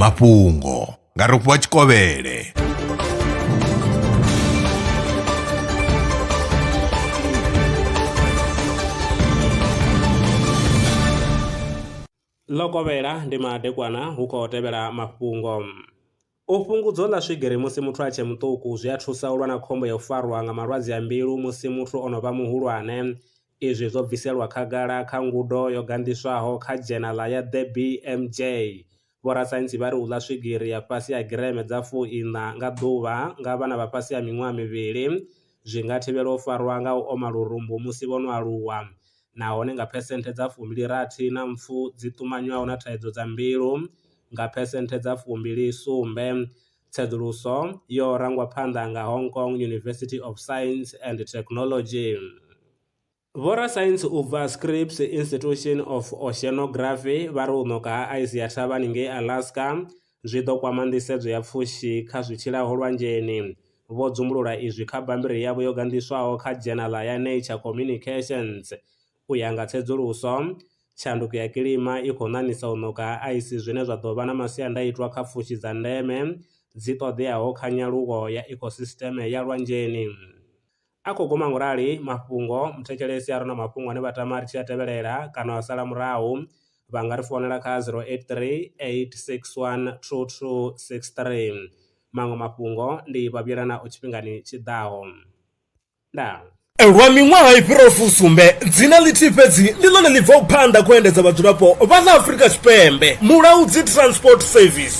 mafhungo nga rofhiwa tshikovhele ḽo kovhela ndi madekwana hu khou tevhela mafhungo U fhungudzo ḽa swigiri musi muthu a tshe muṱuku zwi a thusa u lwa na khombo ya u farwa nga malwadze a mbilu musi muthu o no vha muhulwane. Izwi zwo bviselwa khagala kha ngudo yo ganḓiswaho kha dzhenala ya The BMJ. Vhorasaintsi vha ri u ḽa swigiri ya fhasi ha gireme dza fu iṋa nga ḓuvha nga vhana vha fhasi ha miṅwaha mivhili zwi nga thivhela u farwa nga u oma lurumbu musi vho no aluwa. nahone nga phesenthe dza fumbili rathi na mpfu dzi ṱumanywaho na thaidzo dza mbilu nga phesenthe dza fumbili sumbe. Tsedzuluso yo rangwa phanḓa nga Hong Kong University of Science and Technology. Vhorasaintsi u bva Scripps Institution of Oceanography vha ri u ṋoka ha aisi ya thavhani ngei Alaska zwi ḓo kwama nḓisedzo ya pfushi kha zwi tshilaho lwanzheni, vho dzumbulula izwi kha bammbiri yavho yo ganḓiswaho kha dzhenala ya Nature Communications. U ya nga tsedzuluso, tshanduko ya kilima i khou ṋaṋisa u ṋoka ha aisi zwine zwa ḓo vha na masiandaitwa kha pfushi dza ndeme dzi ṱoḓeaho kha nyaluwo ya ecosystem ya lwanzheni. A khou guma ngurali mafhungo, muthetshelesi a re na mafhungo ane vha tama ri tshi a tevhelela kana wa sala murahu vha nga ri founela kha 083 861 2263. Maṅwe mafhungo ndi vha vhuyela nao tshifhingani tshi ḓaho. Ndaa. Lwa miṅwaha i fhiraho fusumbe, dzina ḽithihi fhedzi ndi ḽone ḽi bvaho phanḓa khou endedza vhadzulapo vha ḽa Afrika Tshipembe, Mulaudzi Transport Service.